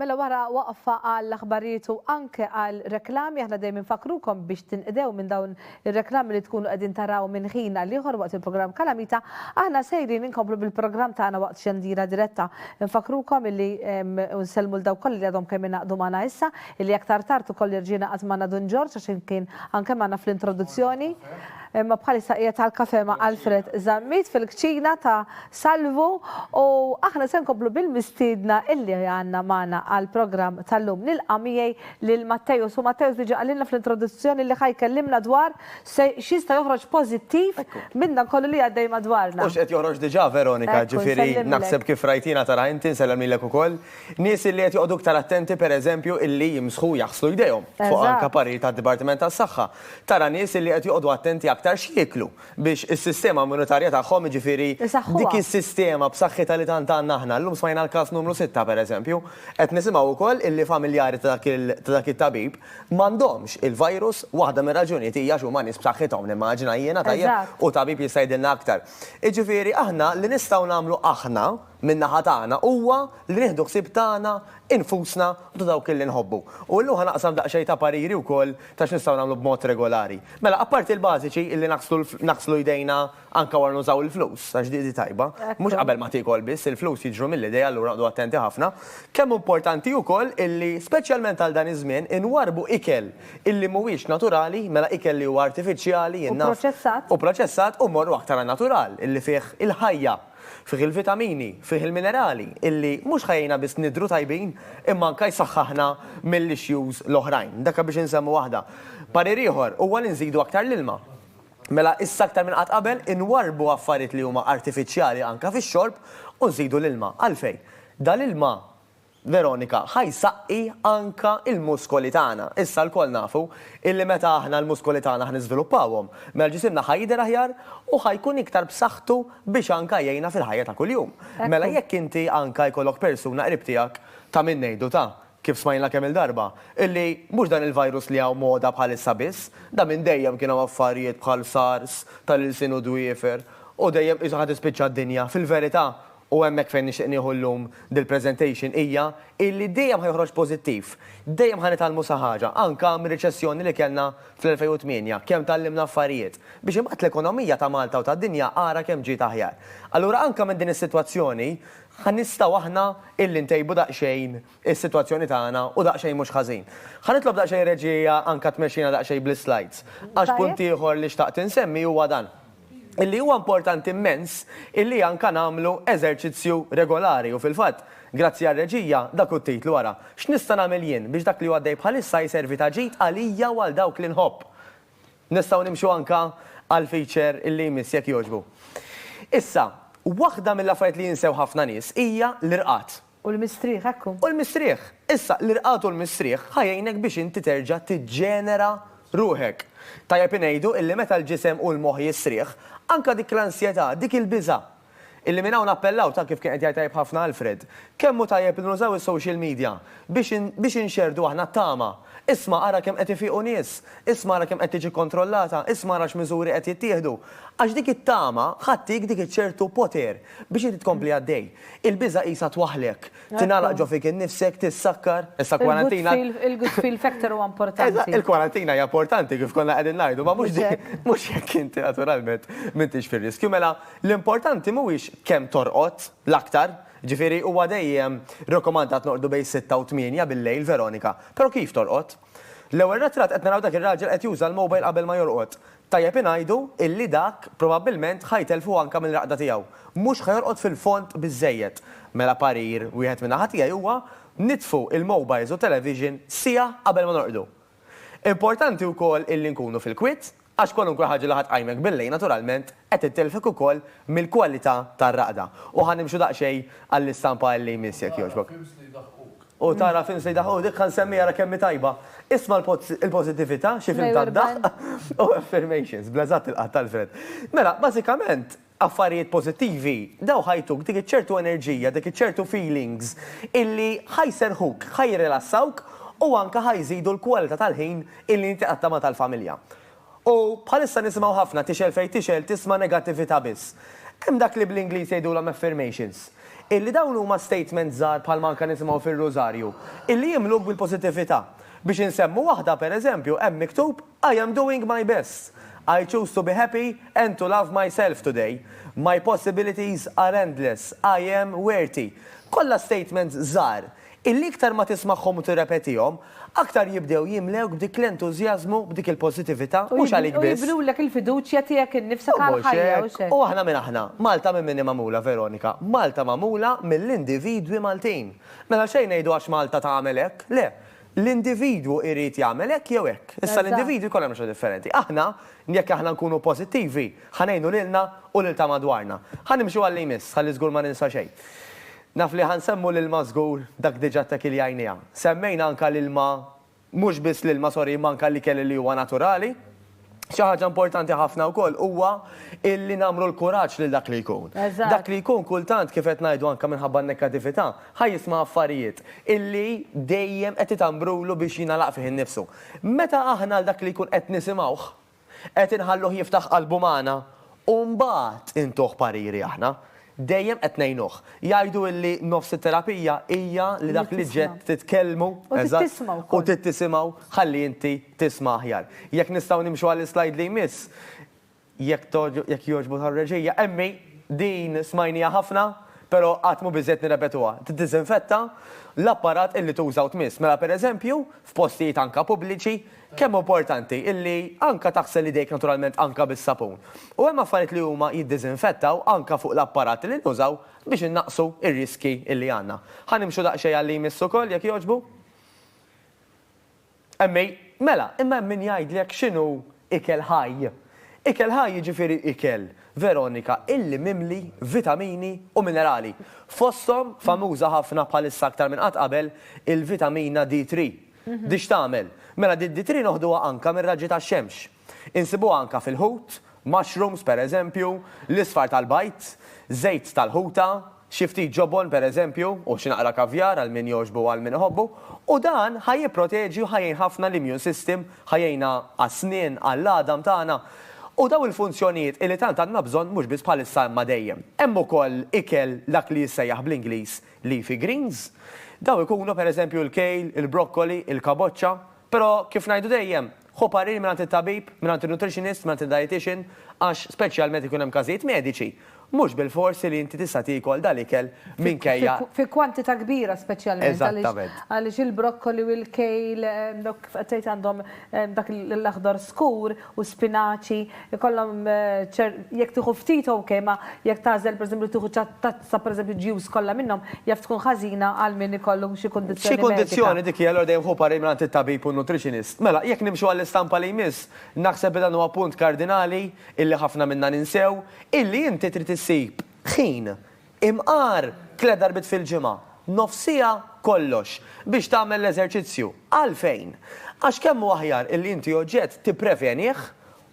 Mela wara waqfa għall aħbarijiet u anke għal reklami aħna dejjem infakrukom biex tinqdew minn dawn ir-reklami li tkunu qegħdin taraw minn ħin għal ieħor waqt il-programm Kalamita, aħna sejrin inkomplu bil-programm tagħna waqt xandira diretta. Infakrukom illi nsellmu l daw kollha li għadhom kemm ingħaqdu magħna issa, illi aktar tard ukoll irġiena qatt magħna Dun Ġorġ għax kien anke magħna fl-introduzzjoni. Imma bħalissa qiegħed għall-kafè ma' Alfred Zammit fil-kċina ta' Salvu u aħna se nkomplu bil-mistiedna illi għandna magħna għall-programm tal-lum. Nilqa' miegħi lil Matteus u Matteus diġà qalilna fl-introduzzjoni li ħa jkellimna dwar se x'jista' joħroġ pożittiv minn dan kollu li għaddej madwarna. U x'qed joħroġ diġà Veronika, jiġifieri naħseb kif rajt jiena tara inti, nsellem lilek ukoll, nies illi qed joqogħdu iktar attenti pereżempju illi jimsħu u jaħslu jdejhom fuq anke parir tad-Dipartiment tas-Saħħa. Tara nies illi qed joqogħdu attenti aktar x'jieklu biex is-sistema immunitarja tagħhom, jiġifieri dik is-sistema b'saħħitha li tant għandna aħna. Llum smajna l-każ numru sitta, pereżempju. Qed nisimgħu wkoll illi familjari ta' dak it-tabib m'għandhomx il-virus. Waħda mir-raġunijiet hija għax huma nies b'saħħithom, nimmaġina jiena, tajjeb? U tabib jista' jgħidilna aktar. Jiġifieri aħna li nistgħu nagħmlu aħna, min-naħa tagħna huwa li nieħdu ħsieb tagħna nfusna u ta' dawk li nħobbu. U illum ħa naqsam daqsxejn ta' pariri wkoll ta' x'nistgħu nagħmlu b'mod regolari. Mela, apparti l-bażiċi illi naħslu naħslu jdejna anke wara nużaw il-flus, għax di di tajba, mhux qabel ma tiekol biss, il-flus jiġru mill-idejn allura noqgħdu attenti ħafna, kemm hu importanti wkoll illi, speċjalment għal dan iż-żmien, inwarrbu ikel illi mhuwiex naturali, mela ikel li huwa artifiċjali, jien naf, u proċessat, u mmorru aktar għan-natural, illi fih il-ħajja. Fih il-vitamini, fih il-minerali illi mhux ħa jgħinna biss nidhru tajbin imma anke jsaħħaħna mill-issues l-oħrajn. Dak biex insemmu waħda. Parir ieħor huwa li nżidu aktar l-ilma. Mela issa aktar minn qatt qabel inwarrbu affarijiet li huma artifiċjali anke fix-xorb u nżidu l-ilma. Għalfejn? Dal-ilma Veronika, Ħa jsaqqi anke l-muskoli tagħna. Issa lkoll nafu illi meta aħna l-muskoli tagħna ħa niżviluppawhom, mela ġisimna ħa jidher aħjar u ħa jkun iktar b'saħħtu biex anke jgħinna fil-ħajja ta' kuljum. Mela jekk inti anke jkollok persuna qrib tiegħek ta' min ngħidu ta', kif smajna kemm-il darba, illi mhux dan il-virus li hawn moda bħalissa biss, da minn dejjem kien hawn affarijiet bħal sars tal-ilsien u dwiefer u dejjem qisha ħa tispiċċa d-dinja, fil-verità u hemmhekk fejn nixtieq nieħu llum dil-presentation, hija illi dejjem ħa joħroġ pożittiv. Dejjem ħa nitgħallmu sa ħaġa, anke mir-riċessjoni li kellna fl-2008, kemm tgħallimna affarijiet, biex imbagħad l-ekonomija ta' Malta u tad-dinja ara kemm ġiet aħjar. Allura anke minn din is-sitwazzjoni ħa nistgħu aħna illi ntejbu daqsxejn is-sitwazzjoni tagħna u daqsxejn mhux ħażin. Ħa nitlob daqsxejn reġija anke tmexxina daqsxejn bl-islides, għax punt ieħor li xtaqt insemmi huwa dan. illi huwa importanti mmens illi anka nagħmlu eżerċizzju regolari u fil-fatt, grazzi għar-reġija, dak hu t-titlu ara, X'nista' nagħmel jien biex dak li hu għaddej bħalissa jservi ta' ġid għalija u għal dawk li nħobb? Nistgħu nimxu anka għall-feature illi jmiss jekk jogħġbu. Issa, waħda mill-affarijiet li jinsew ħafna nies hija l-irqad. U l-mistrieħ, hekk hu. U l-mistrieħ. Issa, l-irqad u l-mistrieħ ħa jgħinek biex inti terġa' tiġġenera ruħek. Tajjeb ingħidu illi meta l-ġisem u l-moħħ jistrieħ, anke dik l-ansjetà, dik il-biża'. Illi minn hawn nappellaw, ta' kif kien qed jgħid tajjeb ħafna Alfred, kemm hu tajjeb li nużaw is-social media biex biex inxerrdu aħna t-tama. Isma' ara kemm qed ifiqu nies, isma' ara kemm qed tiġi kkontrollata, isma' ara x'miżuri qed jittieħdu. Għax dik it-tama ħa ttik dik iċ-ċertu poter, Biex inti tkompli għaddej. Il-biża' qisha twaħħlek, tingħalaq ġo fik innifsek, tissakkar, issa kwarantina. Il-good feel factor huwa importanti. Il-kwarantina hija importanti kif konna qegħdin ngħidu, ma mhux mhux jekk inti naturalment m'intix fir-riskju. Mela, l-importanti mhuwiex kemm torqod l-aktar, jiġifieri huwa dejjem rakkomandat norqdu bejn sitta u tmienja bil-lejl, Veronika, però kif torqod? L-ewwel retratt qed naraw dak ir-raġel qed juża l-mobile qabel ma jorqod. Tajjeb ingħidu illi dak probabbilment ħa jtellfu anke mill-raqda tiegħu. Mhux ħa jorqod fil-fond biżżejjed. Mela parir wieħed min-naħa tiegħi huwa nitfu l-mobiles u t-television siegħa qabel ma norqdu. Importanti wkoll illi nkunu fil-kwiet għax kwalunkwe ħaġa li ħa tqajmek billejl naturalment qed itellfek ukoll mill-kwalità tar-raqda. U ħa nimxu daqsxejn għall-istampa illi jmiss jekk jogħġbok. U tara film sejda hu dik ħan semmiha ra kemm hi tajba. Isma' l-pożittività, xi film tad-daħq u affirmations, bla eżatt il-qatt Alfred. Mela, bażikament, affarijiet pożittivi, daw ħa jtuk dik iċ-ċertu enerġija, dik iċ-ċertu feelings illi ħa jserrħuk, ħa jirrilassawk u anke ħa jżidu l-kwalità tal-ħin illi inti qatta' ma' tal-familja. U bħalissa nisimgħu ħafna tixgħel fejn tixgħel tisma' negattività biss. Hemm dak li bl-Ingliż jgħidulhom affirmations. Illi dawn huma statements żgħar bħalma anke nisimgħu fir-Rużarju, illi jimluk bil-positività. Biex insemmu waħda, per eżempju, hemm miktub I am doing my best. I choose to be happy and to love myself today. My possibilities are endless. I am worthy. Kollha statements żgħar Illi iktar ma tismagħhom u tirrepetihom, aktar jibdew jimlewk b'dik l-entużjażmu, b'dik il-pożitività, mhux għalik biss. U jibnulek il-fiduċja tiegħek innifsek għall-ħajja, hux hekk? U aħna min aħna? Malta minn min hi magħmula, Veronika? Malta magħmula mill-individwi Maltin. Mela xejn ngħidu għax Malta tagħmel hekk, le. L-individwu jrid jagħmel hekk jew hekk. Issa l-individwi jkollhom natura differenti. Aħna, jekk aħna nkunu pożittivi, ħa ngħinu lilna u lil ta' madwarna. Ħa nimxu għal li jmiss, ħalli żgur ma ninsa xejn. Naf li ħa nsemmu l-ilma żgur, dak diġa ttek il jajnija. Semmejna anka l-ilma, mhux biss l-ilma sorry imma anka l-ikel li huwa naturali. Xi ħaġa importanti ħafna wkoll huwa illi nagħmru l-kuraġġ lil dak li jkun. Dak li jkun kultant kif qed ngħidu anka minħabba n-nekkatività, ħa jisma' affarijiet illi dejjem qed itambrulu biex jingħalaq fih innifsu. Meta aħna għal dak li jkun qed nisimgħuh, Qed inħalluh jiftaħ qalbu magħna u mbagħad intuh pariri aħna. Dejjem qed ngħinuh. Jgħidu illi nofs it-terapija hija li dak li ġiet titkellmu, eżatt, u trid tisimgħu, ħalli inti tisma' aħjar. Jekk nistgħu nimxu għall-islajd li jmiss, jekk jekk jogħġbu tar-reġija. Emmi, din smajniha ħafna, però qatt mhu biżżejjed nirrepetuha. Tiddiżinfetta l-apparat illi tuża u tmiss. Mela, pereżempju, f'postijiet anke pubbliċi, Kemm hu importanti illi anka taħsel idejk naturalment anka bis-sapun. U hemm affarijiet li huma jiddiżinfettaw anka fuq l-apparati li nużaw biex innaqqsu r-riskji illi għandna. Ħa nimxu daqsxejn għal li jmiss ukoll jekk jogħġbu? Emmi, Mela, imma hemm min jgħidlek x'inhu ikel ħaj. Ikel ħaj jiġifieri ikel, Veronika, illi mimli vitamini u minerali. Fosthom, famuża ħafna bħalissa aktar minn qatt qabel, il-vitamina D3. Dix tagħmel? Mela di d-D3 noħduha anka mir-raġġi tax-xemx. Insibuha anka fil-ħut, mushrooms per eżempju, l-isfar tal-bajd, żejt tal-ħuta, xi ftit ġobon per eżempju, u xi naqra kavjar għal min jogħġbu u għal min iħobbu, u dan ħa jipproteġi u ħa jgħin ħafna l-immune system, ħa jgħinha għas-snien, għall-għadam tagħna. U dawn il-funzjonijiet illi tant għandna bżonn mhux biss bħalissa imma dejjem. Hemm ukoll ikel dak li jissejjaħ bl-Ingliż Leafy greens, Dawn ikunu, per eżempju, il-kale, il-brokkoli, il-kaboċċa. Però, kif ngħidu dejjem, ħu parir mingħand it-tabib, mingħand in-nutritionist, mingħand id-dietician, għax, speċjalment ikun hemm każijiet mediċi, mhux bilfors li inti tista' tiekol dal-ikel minkejja. Fi kwantità kbira speċjalment għaliex il-brokkoli u l-kale, kif qed tgħid għandhom dak l-aħdar skur u spinaċi, ikollhom ċer, jekk tieħu ftit ok, imma jekk tagħżel pereżempju tieħu tazza pereżempju ġjuż kollha minnhom, jaf tkun ħażina għal min ikollu xi kundizzjoni medika. Xi kundizzjoni dik hi, allura dejjem ħu parir mingħand it-tabib u n-nutritionist. Mela, jekk nimxu għall-istampa li jmiss, naħseb li dan huwa punt kardinali illi ħafna minna ninsew, illi inti trid issib ħin Imqar tliet darbiet fil-ġimgħa, nofs siegħa kollox, biex tagħmel l-eżerċizzju. Għalfejn? Għax kemm hu aħjar illi inti oġġett tipprevenih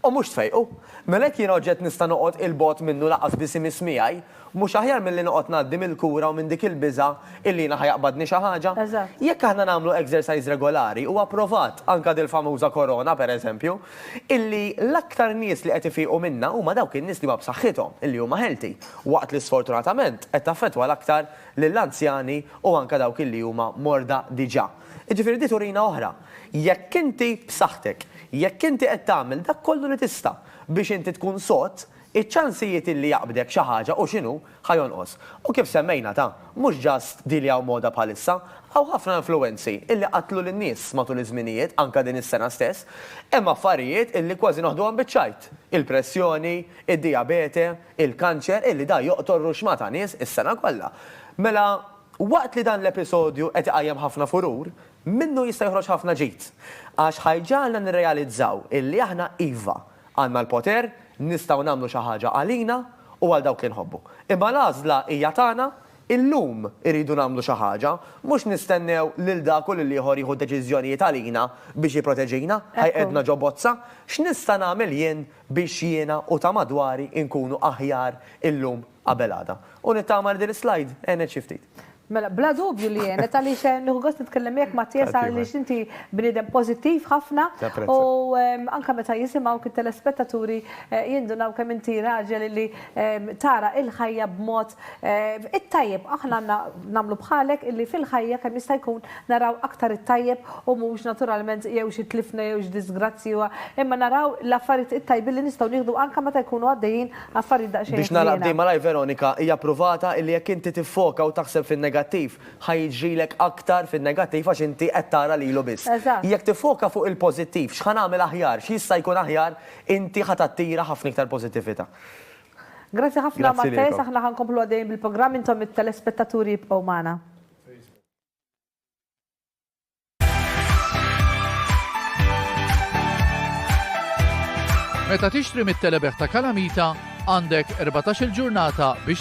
u mhux tfejqu. Mela jekk jiena oġġett nista' noqgħod 'il bogħod minnu lanqas biss imiss miegħi, mhux aħjar milli noqgħod ngħaddi mill-kura u minn dik il-biża' illi jiena ħa jaqbadni xi ħaġa? Jekk aħna nagħmlu exercise regolari, huwa provat, anke dil-famuża korona, pereżempju, illi l-aktar nies li qed ifiqu minnha huma dawk in-nies li huma b'saħħithom, illi huma healthy, waqt li sfortunatament qed taffettwa l-aktar lill-anzjani u anke dawk illi huma morda diġà. Jiġifieri di turina oħra. Jekk inti b'saħħtek, jekk inti qed tagħmel dak kollu li tista' biex inti tkun sod, iċ-ċansijiet illi jaqbdek xi ħaġa u x'inhu, ħa jonqos. U kif semmejna ta, mhux just di li hawn moda bħalissa, hawn ħafna influwenzi illi qatlu lin-nies matul iż-żminijiet anke din is-sena stess. Hemm affarijiet illi kważi noħduhom biċ-ċajt, il-pressjoni, id-dijabete, il-kanċer illi da joqtol ruxma ta' nies is-sena kollha. Mela, waqt li dan l-episodju qed iqajjem ħafna furur, minnu jista' joħroġ ħafna ġid. Għax ħa jġagħalna nirrealizzaw illi aħna iva, Għandna l-poter, nistgħu nagħmlu xi ħaġa għalina u għal dawk li nħobbu. Imma l-għażla hija tagħna, illum irridu nagħmlu xi ħaġa, mhux nistennew lil dak u lill-ieħor jieħu d-deċiżjonijiet għalina biex jipproteġina, jqegħedna ġo bozza. X'nista' nagħmel jien biex jiena u ta' madwari nkunu aħjar illum? qabel għada. U nittama li din is-slide għenet xi ftit. Mela, bla dubju li għenet għaliex nieħu gost nitkellem miegħek Mattias għaliex inti bniedem pożittiv ħafna u anke meta jisimgħuk it-telespettaturi jindunaw kemm inti raġel li tara l-ħajja b'mod it-tajjeb. Aħna għandna nagħmlu bħalek illi fil-ħajja kemm jista' jkun naraw aktar it-tajjeb u mhux naturalment jew xi tlifna jew xi diżgrazzji imma naraw l-affarijiet it-tajbin li nistgħu nieħdu anke meta jkunu għaddejjin Affarijiet daqsxejn ħżiena. Biex nagħlaq b'din malajr Veronika, hija pruvata illi jekk inti tiffoka u taħseb fin-negattiv, ħa jiġrilek aktar fin-negattiv għax inti qed tara lilu biss. Eżatt. Jekk tiffoka fuq il-pożittiv, x'ħa nagħmel aħjar, x'jista' jkun aħjar, inti ħa tattira ħafna iktar pożittività. Grazzi ħafna Grazzi Matthias, lilkom. aħna ħa nkomplu għaddejjin bil-programm, intom it-telespettaturi ibqgħu magħna. Meta tixtri mit-telebeħ ta' Kalamita, għandek 14-il ġurnata biex